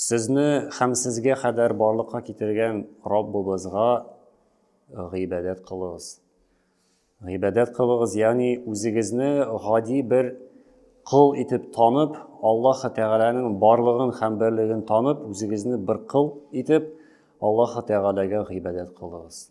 Сезне һәм сезгә кадәр барлыкка китергән Раббыбызга гыйбадәт кылыгыз. Гыйбадәт кылыгыз, ягъни үзегезне гади бер кыл итеп танып, Аллаһ Тәгаләнең барлыгын һәм берлеген танып, үзегезне бер кыл итеп Аллаһ Тәгаләгә гыйбадәт кылыгыз.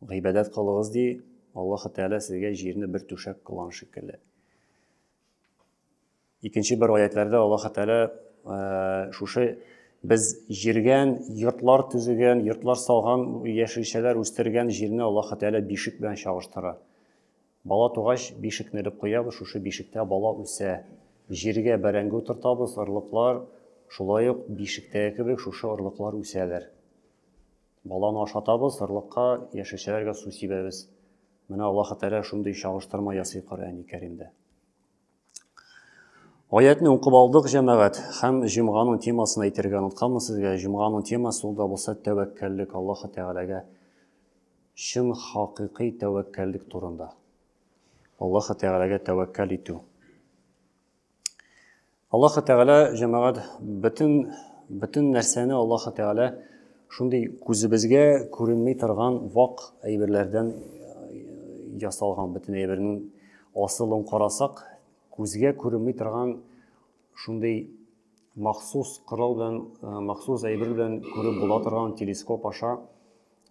Гыйбадәт кылыгыз ди, Аллаһы Тәгалә сезгә җирне бер түшәк кылган шикелле. Икенче бер аятларда Аллаһы Тәгалә э, шушы без җиргән, йортлар төзегән, йортлар салган, яшелчәләр үстергән җирне Аллаһы Тәгалә бишек белән чагыштыра. Бала тугач, бишекне элеп куябыз, шушы бишектә бала үсә. Җиргә бәрәңге утыртабыз, орлыклар, шулай ук бишектәге кебек шушы орлыклар үсәләр. Баланы ашатабыз, сырлыкка, яшелчәләргә су сибәбез. Менә Аллаһы Тәгалә шундый чагыштырма ясый Коръәни Кәримдә. Аятны укып алдык, җәмәгать, һәм җомганың темасын әйтергә онытканмын сезгә. Җомганың темасы ул да булса тәвәккәллек Аллаһы Тәгаләгә чын хакыйкый тәвәккәллек турында. Аллаһы Тәгаләгә тәвәккәл итү. Аллаһы Тәгалә җәмәгать бөтен бөтен нәрсәне Аллаһы Тәгалә шундый күзебезгә күренми торган вак әйберләрдән э, ясалган бөтен әйбернең асылын карасак, күзгә күренми торган шундый махсус корал белән, э, махсус әйбер белән күреп була торган телескоп аша,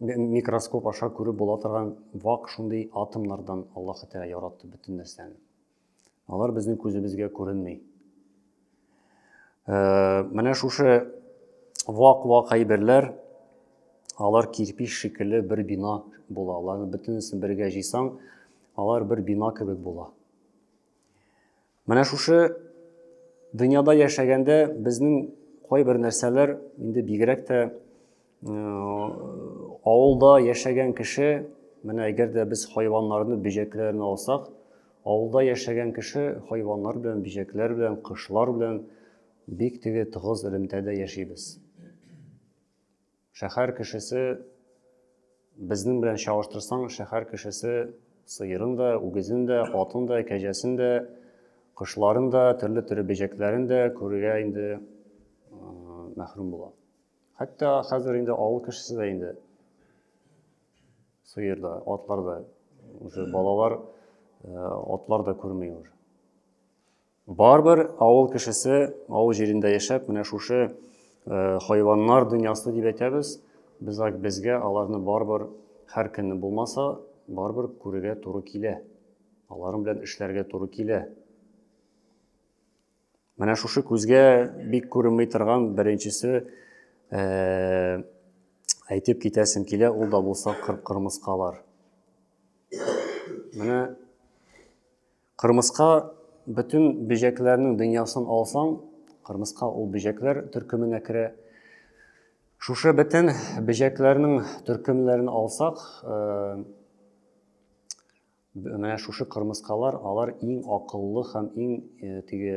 микроскоп аша күреп була торган вак шундый атомнардан Аллаһы Тәгалә яратты бөтен нәрсәне. Алар безнең күзебезгә күренми. Э, менә шушы вак-вак әйберләр алар кирпич шикелле бер бина була. Аларны бөтенесен бергә җыйсаң, алар бер бина кебек була. Менә шушы дөньяда яшәгәндә безнең кайбер нәрсәләр инде бигрәк тә Авылда яшәгән кеше, менә әгәр дә без хайваннарны, бөҗәкләрне алсак, авылда яшәгән кеше хайваннар белән, бөҗәкләр белән, кошлар белән бик теге тыгыз элемтәдә яшибез. Шәһәр кешесе безнең белән чагыштырсаң, шәһәр кешесе сыерын да, үгезен дә, атын да, кәҗәсен дә, кошларын да, төрле төрле бөҗәкләрен дә күрергә инде мәхрүм була. Хәтта хәзер инде авыл кешесе дә инде сыер да, атлар да, уже балалар э, атлар да күрмей уже. Барбер авыл кешесе авыл җирендә яшәп, менә шушы э, хайваннар дөньясы дип әйтәбез. Без безгә аларны барбер һәр көнне булмаса, барбер күрергә туры килә. Аларым белән эшләргә туры килә. Менә шушы күзгә бик күренмей торган беренчесе э, әйтеп китәсем килә, ул да булса кырмыскалар. Менә кырмыска бөтен бөҗәкләрнең дөньясын алсаң, кырмыска ул бөҗәкләр төркеменә керә. Шушы бөтен бөҗәкләрнең төркемнәрен алсак, э, Менә шушы кырмыскалар, алар иң акыллы һәм иң э, теге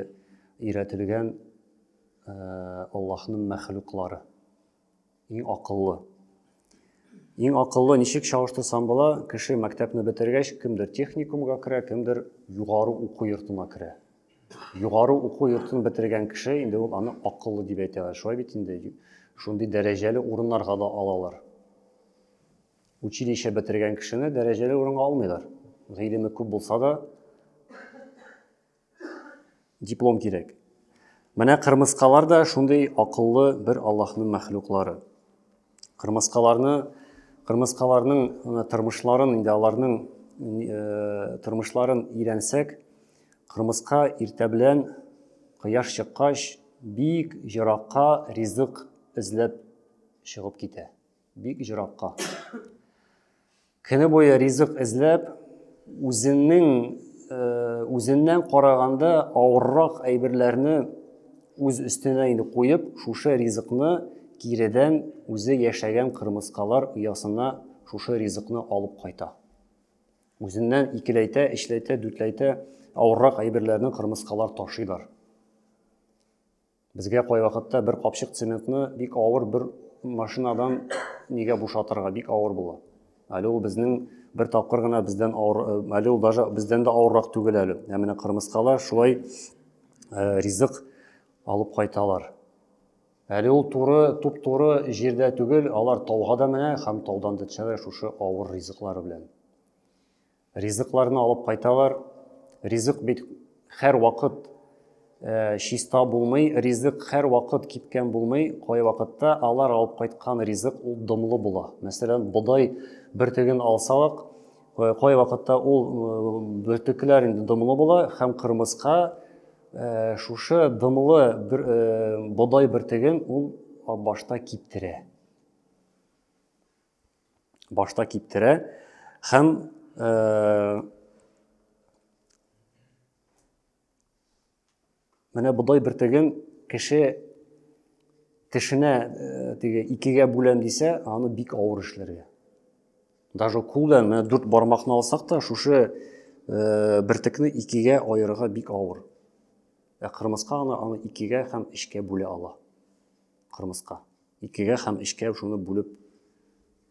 өйрәтелгән э, Аллаһның мәхлуклары. Иң акыллы. Иң акыллы ничек чагыштырсам була, кеше мәктәпне бетергәч, кемдер техникумга керә, кемдер югары уку йортына керә. Югары уку йортын бетергән кеше инде ул аны акыллы дип әйтәләр. Шулай бит инде шундый дәрәҗәле урыннарга да алалар. Училище бетергән кешене дәрәҗәле урынга алмыйлар. Гыйлеме күп булса да, диплом кирәк. Менә кырмыскалар да шундый акыллы бер Аллаһның мәхлуклары. Кырмыскаларны, кырмыскаларның тормышларын, инде аларның э, тормышларын өйрәнсәк, кырмыска иртә белән кояш чыккач бик еракка ризык эзләп чыгып китә. Бик җыракка. Көне буе ризык эзләп, үзенең э, үзеннән караганда авыррак әйберләрне үз өстенә инде куеп, шушы ризыкны киредән үзе яшәгән кырмыскалар оясына шушы ризыкны алып кайта. Үзеннән икеләйтә, эшләйтә, дүтләйтә, авыррак әйберләрне кырмыскалар ташыйлар. Безгә кайвакытта бер капчык цементны бик авыр бер машинадан нигә бушатырга бик авыр була. Әле ул безнең бер тапкыр гына бездән авыр, э, әле ул даже бездән дә авыррак түгел әле. Ә менә кырмыскалар шулай э, ризык алып кайталар. Әле ул туры, туп-туры җирдә түгел, алар тауга да менә һәм таудан да төшәләр шушы авыр ризыклары белән. Ризыкларны алып кайталар. Ризык бит хәр вакыт э, чиста булмый, ризык хәр вакыт кипкән булмый. Кай вакытта алар алып кайткан ризык ул дымлы була. Мәсәлән, бодай бөртеген алсалык, э, кай вакытта ул э, бөртекләр инде дымлы була һәм кырмыска Э, шушы дымлы бер э, бодай бөртеген ул башта киптерә башта киптерә һәм э, менә бодай бөртеген кеше тешенә э, теге икегә бүләм дисә аны бик авыр эшләргә даже кулдан менә дүрт бармакны алсак та шушы э, бөртекне икегә аерырга бик авыр ә кырмыска гына аны икегә һәм эчкә бүлә ала кырмыска Икегә һәм өчкә шуны бүлеп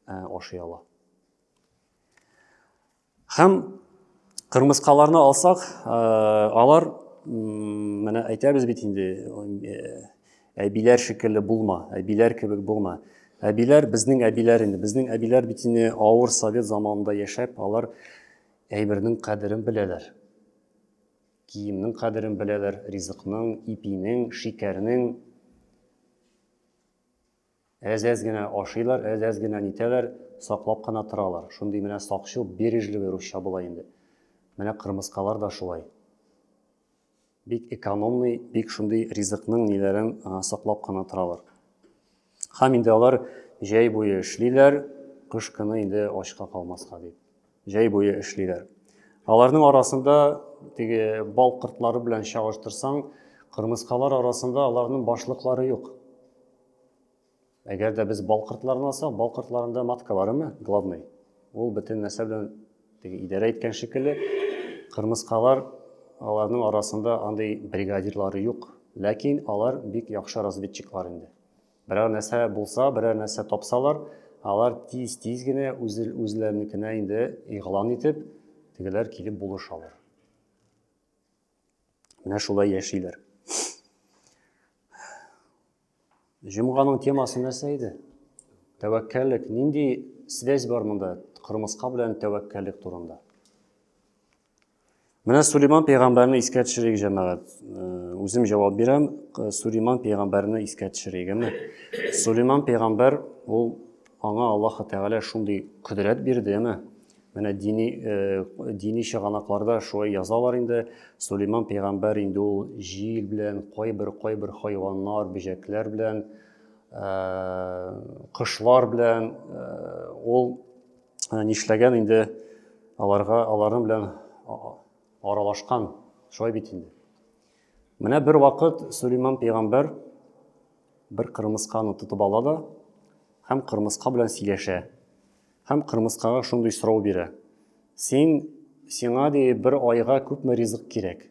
ә, ашый ала. Һәм кырмыскаларны алсак, ә, алар менә әйтәбез бит инде әбиләр шикелле булма, әбиләр кебек булма. Әбиләр безнең әбиләр инде, безнең әбиләр бит инде авыр совет заманында яшәп, алар әйбернең кадерен беләләр. Киемнең кадерен беләләр, ризыкның, ипинең, шикәрнең, Әз-әз генә ашыйлар, әз-әз генә нитәләр, саклап кына торалар. Шундый менә сакчыл, бережливый русча була инде. Менә кырмыскалар да шулай. Бик экономный, бик шундый ризыкның ниләрен саклап кына торалар. Хам инде алар җәй буе эшлиләр, кыш көне инде ачка калмаска дип. Җәй буе эшлиләр. Аларның арасында теге бал кортлары белән чагыштырсаң, кырмыскалар арасында аларның башлыклары юк. Әгәр дә без бал кортларын алсак, бал кортларында матка барымы? Главный. Ул бөтен нәрсә белән теге идарә иткән шикелле. Кырмыскалар аларның арасында андый бригадирлары юк. Ләкин алар бик яхшы разведчиклар инде. Берәр нәрсә булса, берәр нәрсә тапсалар, алар тиз-тиз генә үз, үзләренекенә инде игълан итеп, тегеләр килеп булышалар. Менә шулай яшиләр. Җомганың темасы нәрсә иде? Тәвәккәллек. Нинди связь бар монда? Кырмыска белән тәвәккәллек турында. Менә Сулейман пәйгамбәрне искә төшерик, җәмәгать. Үзем җавап бирәм, Сулейман пәйгамбәрне искә төшерегеме? Сулейман пәйгамбәр ул аңа Аллаһ Тәгалә шундый кодрәт бирде, әмма менә дини дини чыганакларда шулай язалар инде. Сулейман пәйгамбәр инде ул җил белән, кайбер кайбер хайваннар, бөҗәкләр белән, кошлар белән ул Ә нишләгән инде аларга, аларның белән аралашкан, шулай бит инде. Менә бер вакыт Сулейман пәйгамбәр бер кырмысканы тотып ала да һәм кырмыска белән сөйләшә. Һәм кырмыскага шундый сорау бирә. Син сиңа ди бер айга күпме ризык кирәк?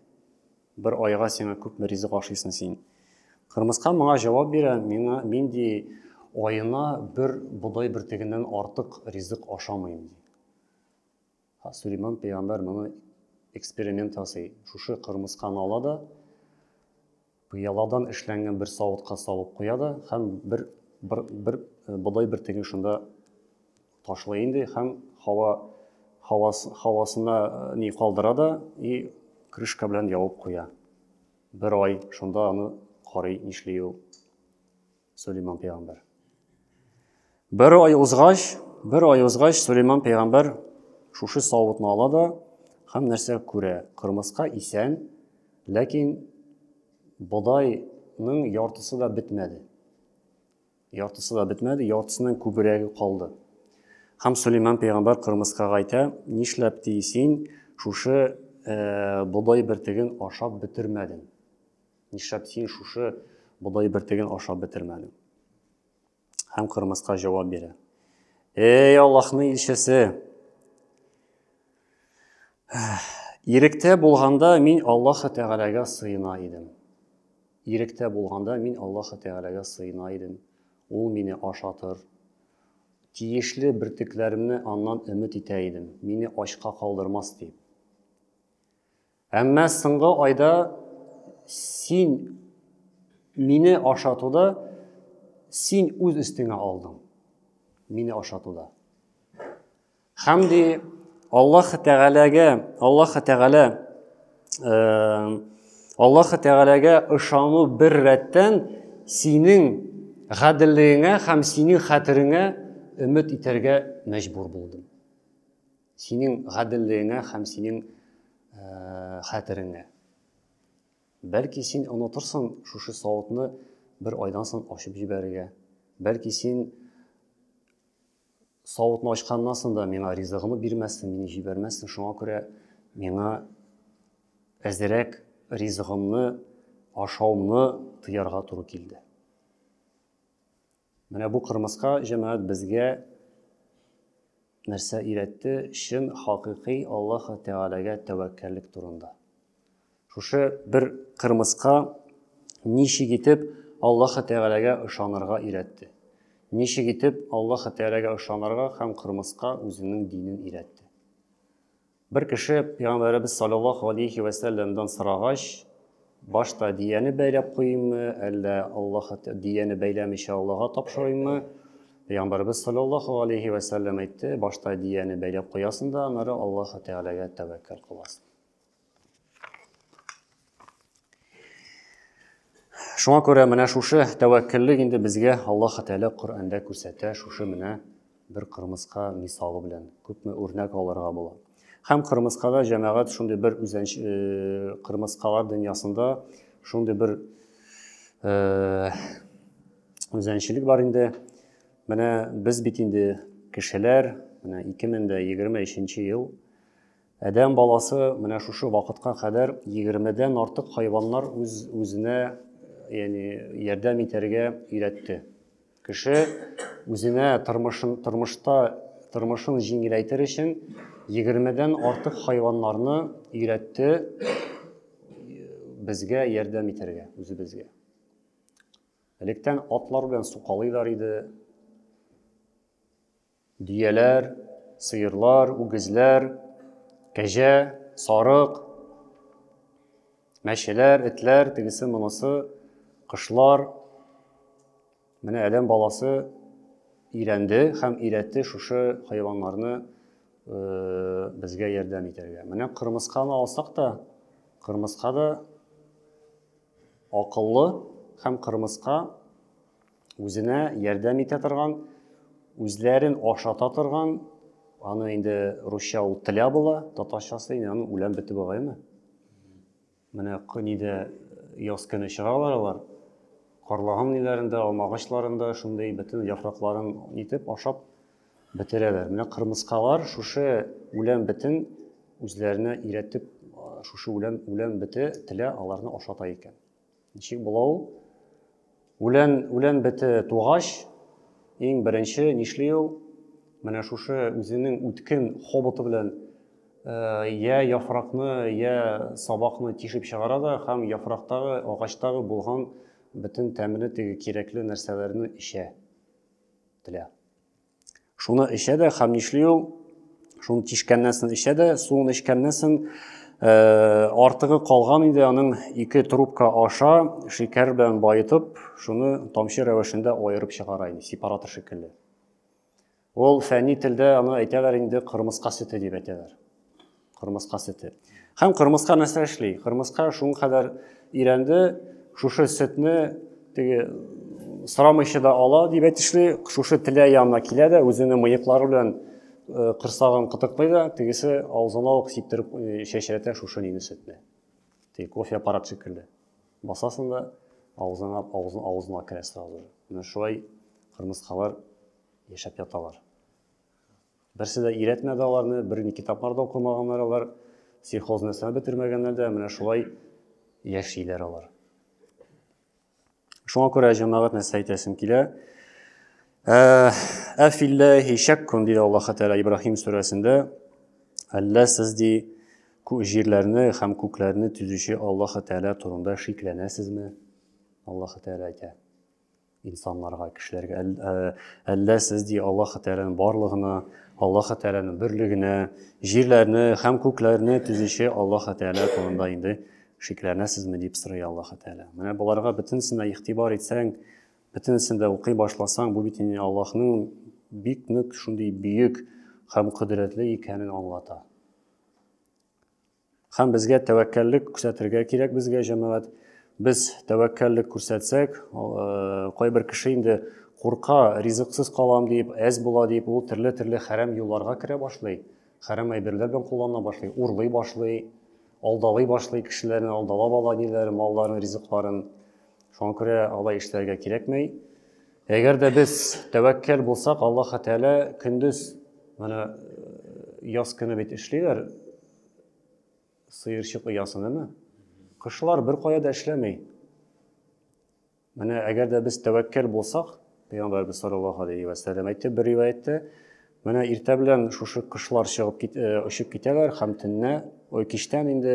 Бер айга сиңа күпме ризык ашыйсың син? Кырмыска моңа җавап бирә, миңа мин ди аена бер бодай бөртегеннән артык ризык ашамыйм ди. Ха, Сулейман пәйгамбәр моны эксперимент ясый. Шушы кырмысканы ала да пыяладан эшләнгән бер савытка салып куя да һәм бер бер, бер бодай бөртеген шунда Ташлый инде һәм һава һавас, һавасына э, ни калдыра да и крышка белән ябып куя. Бер ай шунда аны карый нишли ул Сулейман пәйгамбәр. Бер ай узгач, бер ай узгач Сулейман пәйгамбәр шушы савытны ала да һәм нәрсә күрә? Кырмыска исән, ләкин бодайның яртысы да бетмәде. Яртысы да бетмәде, яртысыннан күбрәге калды. Һәм Сөләйман пәйгамбәр кырмыскага әйтә, нишләп ди син шушы э, бодай бертеген ашап бетермәдең? Нишләп син шушы бодай бертеген ашап бетермәдең? Һәм кырмыска җавап бирә. Эй, Аллаһның илчесе! Иректә булганда мин Аллаһ Тәгаләгә сыена идем. Иректә булганда мин Аллаһы Тәгаләгә сыена идем, Ул мине ашатыр, тиешле бөртекләремне Аннан өмет итә идем, мине ачка калдырмас дип. Әмма соңгы айда син мине ашатуда син үз өстеңә алдың. Мине ашатуда. Һәм ди Аллаһ Тәгаләгә, Аллаһ Тәгалә Аллаһ Тәгаләгә ышану бер рәттән синең гаделлегеңә һәм синең хәтереңә өмет итәргә мәҗбүр булдым. Синең гаделлегеңә һәм синең э, хәтереңә. Бәлки син онытырсың шушы савытны бер айдан соң ачып җибәрергә. Бәлки син Савытны ачканнан соң да миңа ризыгымны бирмәссең, мине җибәрмәссең, шуңа күрә миңа әзерәк ризыгымны, ашаумны тыярга туры килде. Менә бу кырмыска җәмәгать безгә нәрсә өйрәтте? Чын хакыйкый Аллаһ Тәгаләгә тәвәккәллек турында. Шушы бер кырмыска ничек итеп Аллаһы Тәгаләгә ышанырга өйрәтте. Ничек итеп Аллаһы Тәгаләгә ышанырга һәм кырмыска үзенең динен өйрәтте. Бер кеше Пәйгамбәребез саллаллаһу алейхи вә сәлләмдән сорагач, башта дияне бәйләп куйыммы, әллә Аллаһ дияне бәйләмичә Аллаһка тапшырыйммы? Пәйгамбәрбез саллаллаһу алейхи ва саллям әйтте, башта дияне бәйләп куясың да, аннары Аллаһ Тәгаләгә тәвәккәл кыласың. Шуңа күрә менә шушы тәвәккәллек инде безгә Аллаһ Тәгалә Коръәндә күрсәтә, шушы менә бер кырмыска мисалы белән күпме үрнәк алырга була. Һәм кырмыскада җәмәгать шундый бер үзән э, кырмыскалар дөньясында шундый бер э, үзәнчелек бар инде. Менә без бит инде кешеләр, менә 2023 ел Адәм баласы менә шушы вакытка кадәр 20 дән артык хайваннар үз үзенә яни ярдәм итәргә өйрәтте. Кеше үзенә тормышын тормышта тормышын җиңеләйтер өчен 20 дән артык хайваннарны өйрәтте безгә ярдәм итәргә үзебезгә. Электән атлар белән сукалыйлар иде. Дөяләр, сыерлар, үгезләр, кәҗә, сарык, мәчеләр, этләр, тегесе, монысы, кышлар. Менә Әдәм баласы өйрәнде һәм өйрәтте шушы хайваннарны э, безгә ярдәм итәргә. Менә кырмысканы алсак та, кырмыска да акыллы һәм кырмыска үзенә ярдәм итә торган, үзләрен ашата торган, аны инде русча ул тля була, татарчасы инде аны үлән бите бугаймы? Менә көнидә яз көне чыгалар алар. Карлыган ниләрендә, алмагачларында шундый бөтен яфракларын итеп ашап бетерәләр. Менә кырмыскалар шушы үлән битен үзләренә иретеп, шушы үлән үлән бите тля аларны ашата икән. Ничек була ул? Үлән, үлән бете тугач, иң беренче нишли ул? Менә шушы үзенең үткен хоботы белән э, я яфракны, я сабакны тишеп чыгара да һәм яфрактагы, агачтагы булган бөтен тәмле теге кирәкле нәрсәләрне эчә. Телә. Шуны эчә дә, хәм нишли ул? Шуны тишкәннән соң эчә дә, суын эчкәннән соң э, артыгы калган инде аның ике трубка аша шикәр белән баетып, шуны тамчы рәвешендә аерып чыгара инде, сепаратор шикелле. Ул фәнни телдә аны әйтәләр инде кырмыска сөте дип әйтәләр. Кырмыска сөте. Һәм кырмыска нәрсә эшли? Кырмыска шуңа кадәр өйрәнде, шушы сөтне теге сорамыйча да ала дип әйтешли, шушы теле янына килә дә, үзенең мыеклары белән э, кырсагын кытыклый да, тегесе авызына ук сиптереп э, чәчрәтә шушы нине сөтне. Теге кофе аппарат шикелле. Басасың да, авызыңа, авызына, авызына керә сразу. Менә шулай кырмыскалар яшәп яталар. Берсе дә өйрәтмәде аларны, бер ни китаплар да укымаганнар алар, сельхоз нәрсә бетермәгәннәр дә, менә шулай яшиләр алар. Шуңа күрә җәмәгать нәрсә әйтәсем килә? Ә, Әфилләһи шәккун диде Аллаһ Тәгалә Ибраһим сүрәсендә. Әллә сез ди җирләрне һәм күкләрне төзүче Аллаһ Тәгалә турында шикләнәсезме? Аллаһ Тәгалә әйтә. Инсанларга, кешеләргә әллә сез ди Аллаһ Тәгаләнең барлыгына, Аллаһ Тәгаләнең берлегенә, җирләрне һәм күкләрне төзүче Аллаһ Тәгалә турында инде шикләнәсезме дип сорый Аллаһ Тәгалә. Менә боларга бөтенесенә игътибар итсәң, бөтенесен дә укый башласаң, бу бит инде Аллаһның бик нык шундый бөек һәм кодрәтле икәнен аңлата. Һәм безгә тәвәккәллек күрсәтергә кирәк безгә җәмәгать. Без тәвәккәллек күрсәтсәк, э, кайбер кеше инде курка, ризыксыз калам дип, әз була дип, ул төрле-төрле хәрәм юлларга керә башлый, хәрәм әйберләр белән куллана башлый, урлый башлый, алдалый башлый кешеләрне, алдалап ала ниләр, малларын, ризыкларын. Шуңа күрә алай эшләргә кирәкмәй. Әгәр дә без тәвәккәл булсак, Аллаһ Тәгалә көндез менә э, яз көне бит эшлиләр, Сыерчык оясын, әме? Кышлар бер кая да эшләмей. Менә әгәр дә без тәвәккәл булсак, Пәйгамбәрбез саллаллаһу алейхи ва сәлләм әйтте бер риваятьтә, менә иртә белән шушы кышлар чыгып кит, э, очып китәләр һәм төнне, ой, кичтән инде